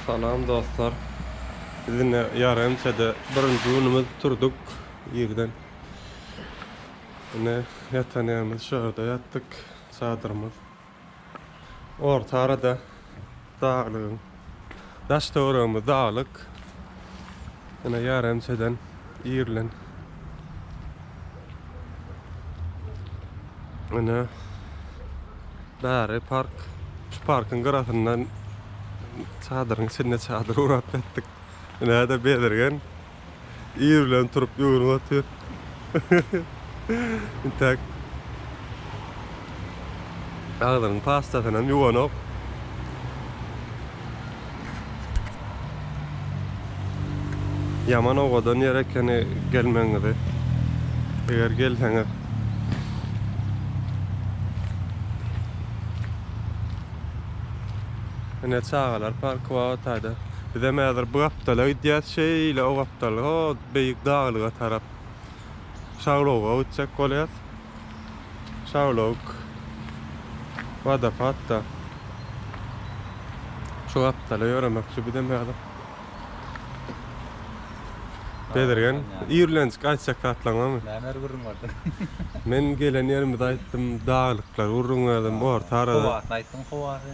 Salam dostlar. Biz indi ýary ençede birinji günümiz turduk irden. Indi ýatan ýerimiz şu ýerde ýatdyk çadyrymyz. Orta arada daglygyň daş-töweregimiz daglyk. Indi ýary ençeden Ýerlen. Ana. Bäri park. Şu parkyň gyrasyndan çadyryň içinde çadyr ugrap ýatdyk. Näde bezirgen. Ýerlen turup ýörüp otyr. Entek. Agzynyň pastasyny hem ýuwanok. Ýaman owadan ýer ekeni gelmegiňizi. Eger gelseňiz Ine çagalar parky bar otayda. Bizem häzir bu gapdala gidýäs şeýle o gapdal o beýik daglyga tarap. Şagloga gitjek bolýas. Şaglog wadopatda. Şu gapdala ýöremekçi bizem häzir. Bezirgen, ýerlenjik aýtjak zatlaň barmy? Näme ýeri gürrüň berdiň? Men gelen ýerimizi aýtdym, daglyklar gürrüň berdim, orta arada. Howasyny aýtdyň, howasy.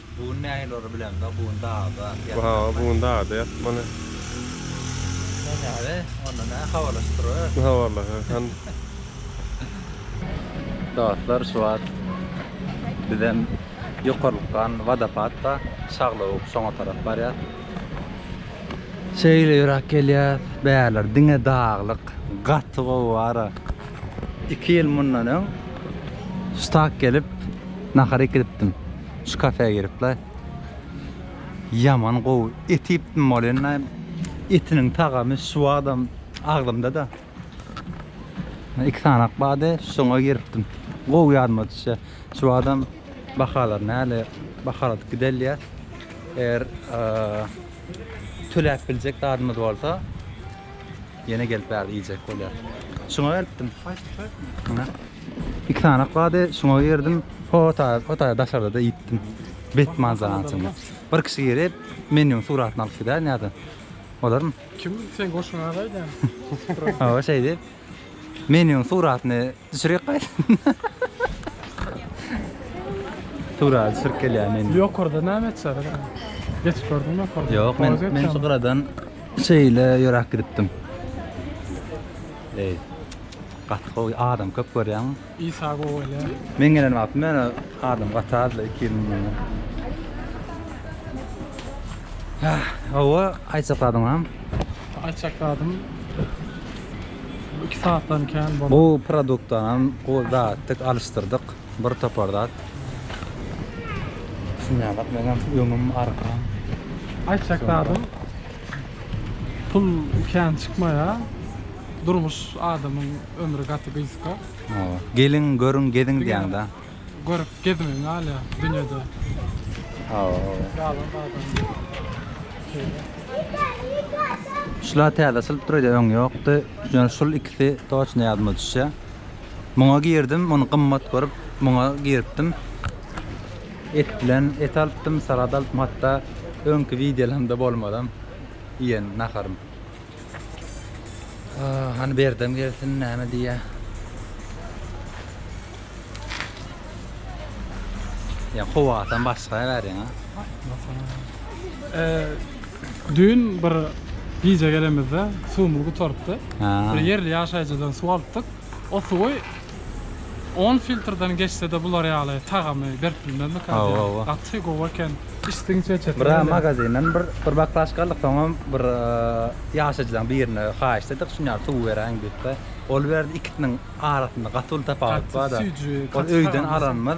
Bu gün nähili ora bilemzok bu gün dagda ýatmaly. Bu gün dagda ýatmaly. Sen näde onda nä habarlaşyp durabersin. Habarlaşarkan. Dostlar şu wagt bizem ýokarlykdan wadopad bar şaglawuk şoňa tarap barýas. Şeýle ýöräp gelýäs bärler diňe daglyk gaty gowy wara. Iki ýyl mundan öň şu tak gelip nahar ekidipdim. Şu kafä gelipla. Yaman gowy. Et ýetdim bolenda. Etiniň tagamy şu wagtdan agzymda da. Iki sanak bade şoňa gelipdim. Gowy ýadyma düşýä. Şu wagtdan bahalar näle bahaladyp gidelýä. Eger töläp biljek zadymyz bolsa. Ýene gelip bärde iýjek bolýar. Şuňa gelipdim. Muňa. Iki sanak bady şuňa girdim. Hota, hota daşarda da iýipdim. Bet manzaranyň içinde. Bir kişi girip, menýuň suratyny alyp gidär näde. Olarmy? Kim sen goşuňa gaýdan? Hawa şeýdip. Menýuň suratyny Düşürek gaýt. Tura düşürip gelýär meni. Ýokarda näme etjär? Geç gördüm ýokarda. Ýok, men men şu gyradan şeýle ýöräp gidipdim. Ey. Gaty gowy adam köp görýäň. Isa gowy ele. Men gelen wagtym men adam gaty azdy 2 ýyl mundan. Ah, hawa, aýtsak adyňam. Aýtjak zadym bu iki saatdan kän boldy. Bu produktdan hem gowy zatdyk alyşdyrdyk. Bir topar zat. Düşünýäňok meňem öňüm arkam. Aýtjak zadym pul kän çykmaýar. Durmuş adamyň ömri gaty gysga. Gelin görün gezin diýäňdä. Görüp gezmegin galya dünyada. Hawa hawa. Galan galan. Şula täze açylyp dur öň ýokdy. Ýöne şul ikisi toçny ýadyma düşýä. Muňa girdim, muny gymmat görüp, muňa giripdim. Et bilen et alypdym, salat alypdym hatda öňki wideolarymda bolmadam iýen naharym. Aa, hany berdem gelsin näme diýýä. Ya howadan başga bäriň ha. Ee, düýn bir gije gelemizde suwumyz gutarypdy. Ha. Bir ýerli ýaşaýjydan suw alypdyk. O suwy On filtrden geçsede bular ýaly tagamy berip bilmezmika Hawa diýýän. hawa. Gaty gowy eken. Içdigiňçe içersiň Bra welin. magazinden bir bir baklažka aldyk soňam bir ýaşaýjylaň birine haýyşt etdik şuny ýaly suw beräýiň diýipde ol berdi ikisiniň arasynda gaty uly tapawut Gaty barda süýji, ol gaty öýden tagamy alanymyz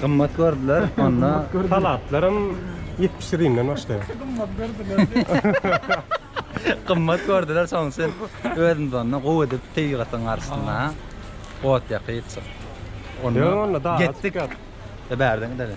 Gymmat gördüler onda. Halatlaram 70 rimden başlaýar. Gymmat gördüler. Gymmat gördüler soň sen özüňizi onda gowy edip tebigatyň garşysynda ot ýakyp. Onda getdik. Bärden gidelim.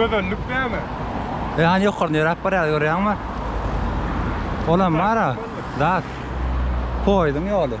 Gözenlik näme? E hani ýokarda ýöräp barýar görýäňmi? Olam bar-a, dat. Poýduň ýoly.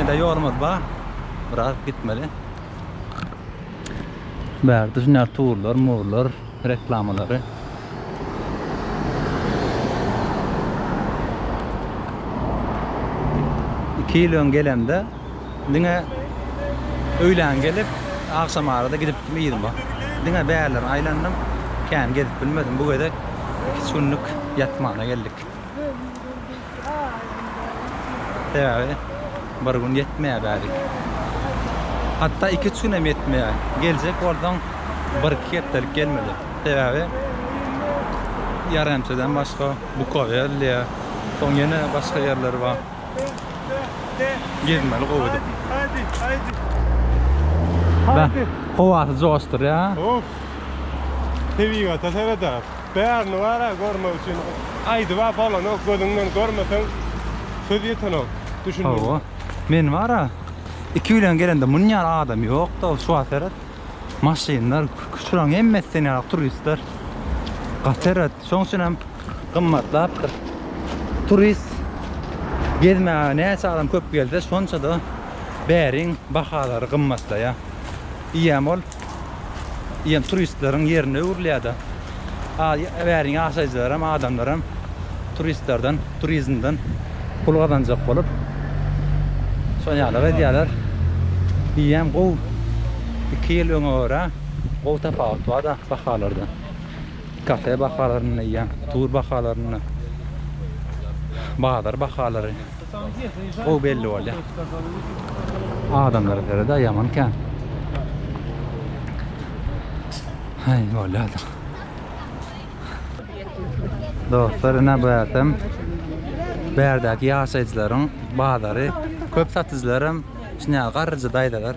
Ede ýolumyz bar. Biraz gitmeli. Bärde şunday turlar, murlar, reklamalary. Iki ýyl öň gelemde diňe öýlän gelip, agşam arada gidipdim yzyma. Diňe bärlerini aýlandym. Kän gezip bilmedim. Bu gezek iki-üç günlük ýatmana geldik. Sebäbi bir gün ýetmeýär bärik. Hatda 2-3 gün hem ýetmeýär. Geljek bolsaň bir-iki hepdelik gelmeli. Sebäbi Ýaremçeden başga Bukowerliýa, soň ýene başga ýerler bar. Gezmeli gowy edip. Bäh, howasy joşdurýar. Of. Tebigata seredäs. Bärini bar-a görmek üçin aýdyb-a bolanok, gözüňden görmeseň söz ýetenok. Düşündim. Hawa. Men bar-a iki bilen gelende munýan adam ýokda şu wagt seret. Maşynlar, şularyň hemmesi sen ýaly turistler. Gaty seret. Şoň üçin hem gymmatlapdyr. Turist gezmäge näçe adam köp gelse, şonça-da bäriň bahalary gymmatlaýar. Diýýän bol. Diýen turistleriň ýerine öwrülýärdi. Bäriň ýaşaýjylaram, adamlaram turistlerden, turizmden pul gazanjak bolup, şol ýaly edýärler. Diýýän gowy. Iki ýyl öňe görä gowy tapawut bar-da bahalarda. Kafe bahalarynda diýýän, tur bahalarynda, bazar bahalary. Gowy belli bolýar. Adamlara göre-de ýaman kän. Haý, bolýardyr. Dostlar, ine bu ýerdem bärdäki ýaşaýjylaryň bazary. Köp satyjylar hem şuny garryja daýzalar.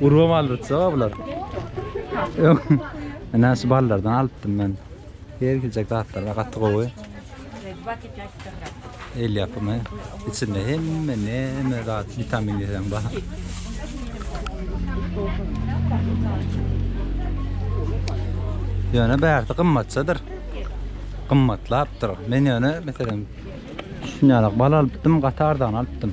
Urgam aldyrtsa bular. Ana şu ballardan alypdym men. Her giljek zatlar we gaty gowy. El yapımı. İçinde hemme neme zat vitamin diýen bar. Ýöne bärsi gymmatçadyr. Gymmatlapdyr. Men ýöne meselem şunýarak bal alypdym, gaty arzan alypdym.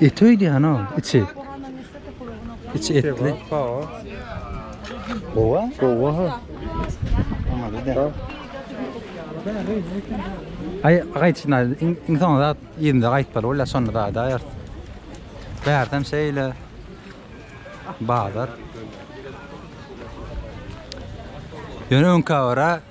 Eti öýdýän o, içi. Içi etli. Gowa? Gowa ha. Ay gaýtşyna iň soňy zat ýerinde gaýtmaly bolýar şonda zat aýar. Bärdem şeýle bazar. Ýöne öňkä görä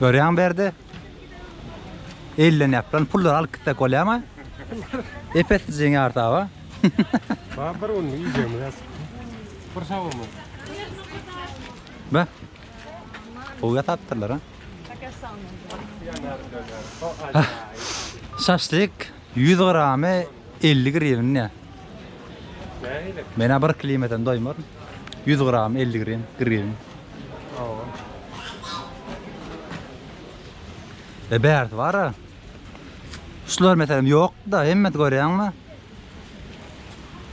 Görýäňmi Berdi? Ellenýäp lan pullary alyp gitsek bolýamy? Epes jeň artaba. Ba bir gün iýjegimiz ýas. Bir sag bolma. Ba. Gowy ýasapdyrlar ha. Şaşlyk Ýüz gramy elli grivne. Nähili? Men-ä bir kilo ýemesem doýmaryn. Ýüz gramy elli grivn, grivn. Hawa. E bärsi bar-a. Şular meselem ýok-da, hemmesi görýäňmi?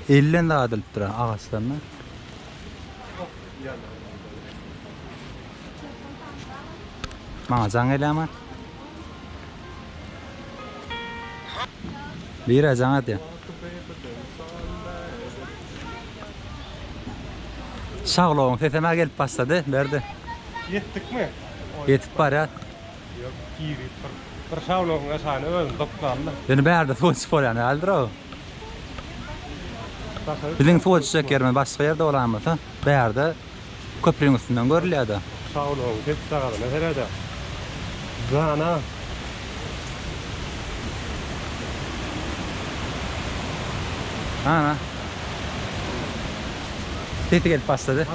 Elden zat ilipdir ha, agaçdan-da. Maňa jaň gelýämi? Bire jaň edýän. Şaglowyň sesem-ä gelip başlady, Berdi. Ýetdikmi? Ýetip barýar. Ýok, girip bir. Bir şaglowyň aşagyna özüni dokdandy. Ýöne bärde suw içip bolýan däldir-ow. Biziň suw içjek ýerimiz başga ýerde bolan bolsa, bärde Köprüň üstünden görülýärdi. Saglygyň pes çagazyna serede. Jana. Ana. Sesi gelip başlady.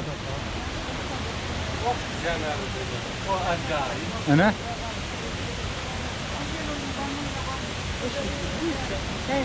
Ana. Hey,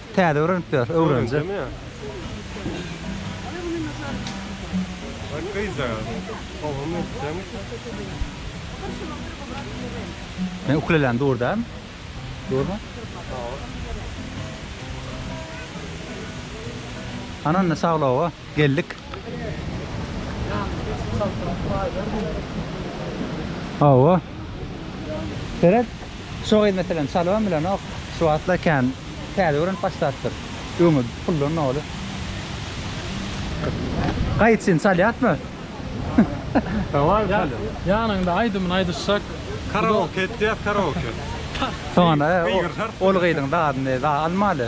Täze öwrenip ýörüs, öwrenje. Men ukulelem dur dämi? Durmy? Ananda saglawa. Geldik. Hawa. Seret. Şo gyz meselem çalybam bilenok. Şu wagtlar kän täze öwrenip başlapdyr. Öňe puldan doly. Gaýyt üçin çalýatmy? Hawa, çalýar. Ýanyňda aýdymyny aýdyşjak. Karaoke etýär, karaoke. Soňra ol gyzyň zadyny almaly.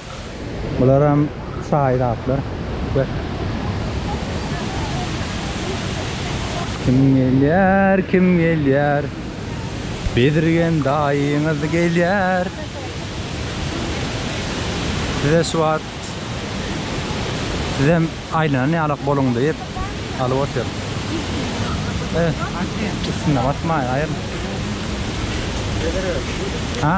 Bularam çaý zatlar. Kim gelýär, kim gelýär? Bezirgen daýyňyz gelýär. Size şu wagt sizem aýlanan ýalak boluň diýip alyp otyr. Üstüne basmaýaýyr. Ha?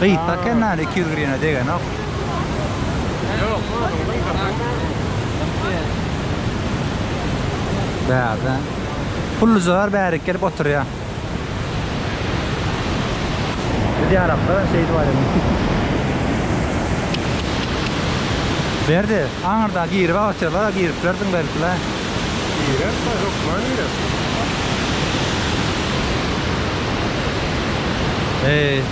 Gyýtda eken nane iki ýüz grine degenok. Bärde. Pullujalar bärik gelip oturýa. Biz ýalaklar şeýdip aýdym. Berdi, aňyrda girip oturýarlar, giriplerdiň belki-le. Girerler, hökman girer. Eý.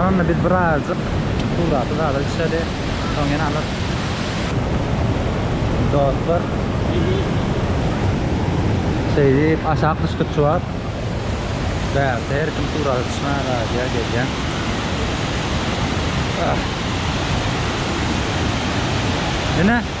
Anna biz birazjyk suraty galyp içeli. Soň ýene alyp. Dostlar. Şeýdip aşak düşdük şu wagt. Bärde her kim surata düşmän gaýdýar gelýär. Ah. Ine.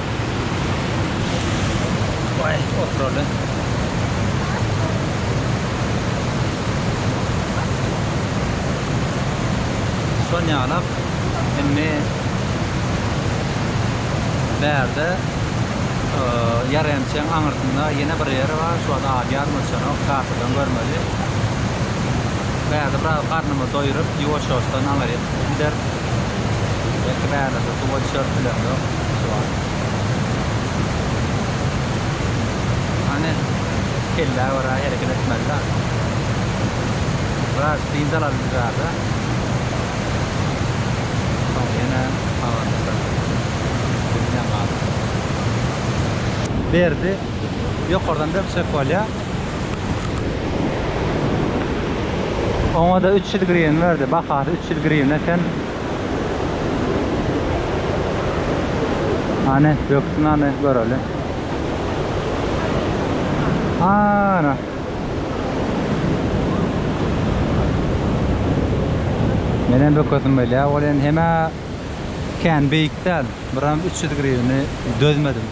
Baý, oturaly. Şol ýalak indi bärde ýaremçäň aňyrsynda ýene bir ýeri bar, şu wagt ady ýadyma düşenok, kartadan görmeli. Bärde biraz garnymy doýuryp, ýuwaş-ýuwaşdan aňryk gideris. Belki bärde Suwa düşer pilen yok suwa. Hani kelle göre hereket etmeli da. Biraz dynç alalım bu ýerde. Soň ýene habarlaşarys. Bilmän galdym. Berdi ýokardan bir çek bolýa. Oňa-da üç ýüz grywna berdi. Bahasy üç ýüz grywna eken. Hany döksün hany göreli. Ana. Menen dökesim gelýär. Ol endi hemä kän beýik däl. Biram 300 grivni dözmedim.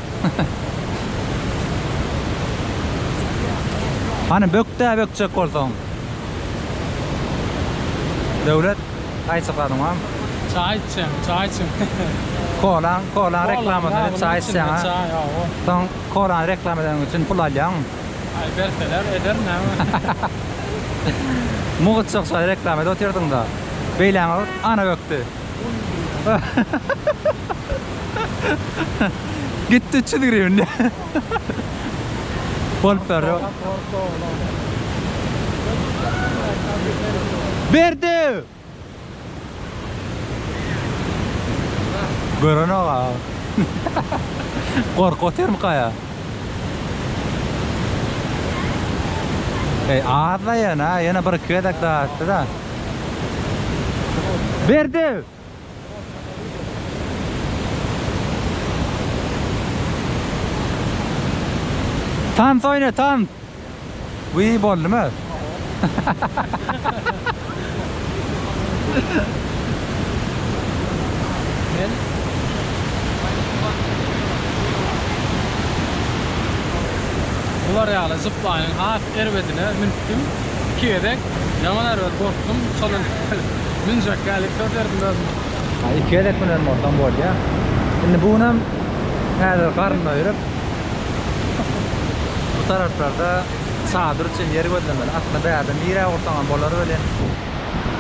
Hany bökdä bökjek bolsaň. Döwlet Çaý çykadyňam. Çaý içýän, çaý içýän. Kolaň, kolaň reklamasyny edip çaý içýäňa. Çaý, hawa. Soň kolany reklama edeniň üçin pul alýaňmy? Aý berseler ederin näme. Mugt şo reklama edip otyrdyňda. Beýläňe ot, ana bökdi. Gitdi üç ýüz grywna. Bolup berdi. Berdi. Görenok ha. Gork otyrmy kaya? Ey azda yana, yana bir iki gezek daha attı da. Berdi. Tans oýna tans. Wiý boldum öz. Bular ýaly zipline has erbedine münüpdim. Iki gezek Ýaman erbet gorkdum şondan münjek ýaly sezerdim özümi. Ha iki gezek münen bolsam bolýa. Indi bu günem häzir garyn doýuryp bu taraplarda çadyr üçin ýer gözlemeli. Aslynda bärde nirä gursaňam bolar welin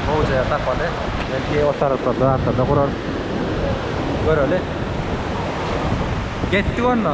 gowy jaý tapaly. Belki o taraplarda zatlarda gurarys. Göreli. Getdik onda.